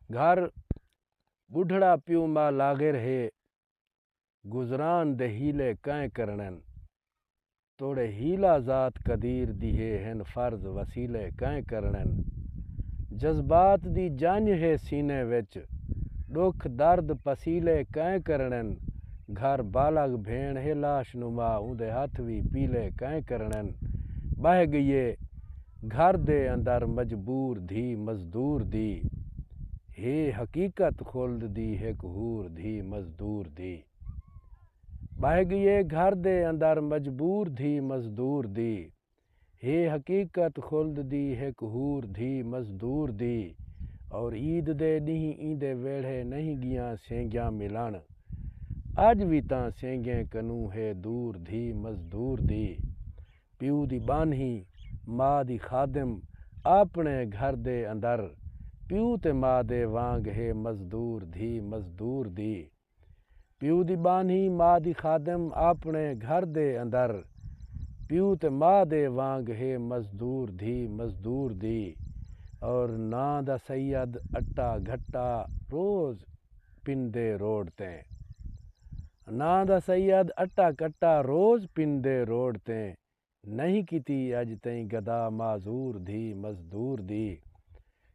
گھر بڈھڑا پیو ماء لاغر ہے گزران دے حیلے کئیں کرنن توڑے حیلہ ذات قدیر دی ہے ہن فرض وسیلے کئیں کرنن جذبات دی جنج ہے سینے وچ ڈکھ درد پسیلے کئیں کرنن گھر بالغ بھیݨ ہے لاش نما اوندے ہتھ وی پیلے کئیں کرنن بہہ گئیے گھر دے اندر مجبور دھی مزدور دی ہے حقیقت خلد دی ہک حور دھی مزدور دی ٻہہ ڳیے گھر دے اندر مجبور دھی مزدور دی ہے حقیقت خلد دی ہک حور دھی مزدور دی اور عید دے ݙینہہ ایندے ویڑھے نہیں ڳیاں سینگیاں ملݨ اڄ وی تاں سینگیں کنوں ہے دور دھی مزدور دی۔ پیو دی ٻانہی، ما دی خادم، آپݨے گھر دے اندر پیو تے ما دے وانگ ہے مزدور دھی مزدور دی۔ پیو دی ٻانہی، ما دی خادم، آپݨے گھر دے اندر پیو تے ما دے وانگ ہے مزدور دھی مزدور دی اور ناں دا سید اٹا گھٹا روز پندے روڈ تے ناں دا سید اٹا کٹا روز پندے روڈ تے نہیں کیتی اج تئیں گدا معذور دھی مزدور دی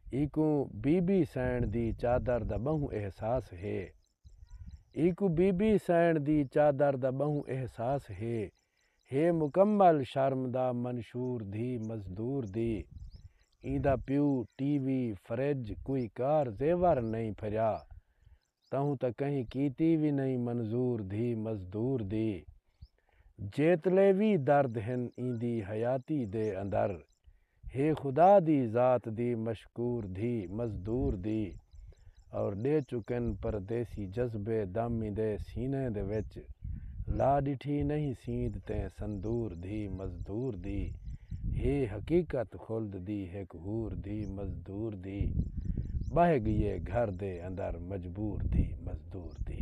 ایکوں بی بی سئین دی چادر دا بہوں احساس ہے ایکوں بی بی سئین دی چادر دا بہوں احساس ہے ہے مکمل شرم دا منشور دھی مزدور دی ایندا پیو ٹی وی فرج کوئی کار زیور نئیں پھریا تہوں تاں کہیں کیتی وی نئیں منظور دھی مزدور دی جیتلے وی درد ہن ایندی حیاتی دے اندر ہے خدا دی ذات دی مشکور دھی مزدور دی اور ݙے چکن پردیسی جذبے دامندے سینہ دے وچ لا ݙٹھی نہیں سیند تے سندور دھی مزدور دی ہے حقیقت خلد دی ہک حور دھی مزدور دی ٻہہ ڳیے گھر دے اندر مجبور دھی مزدور دی۔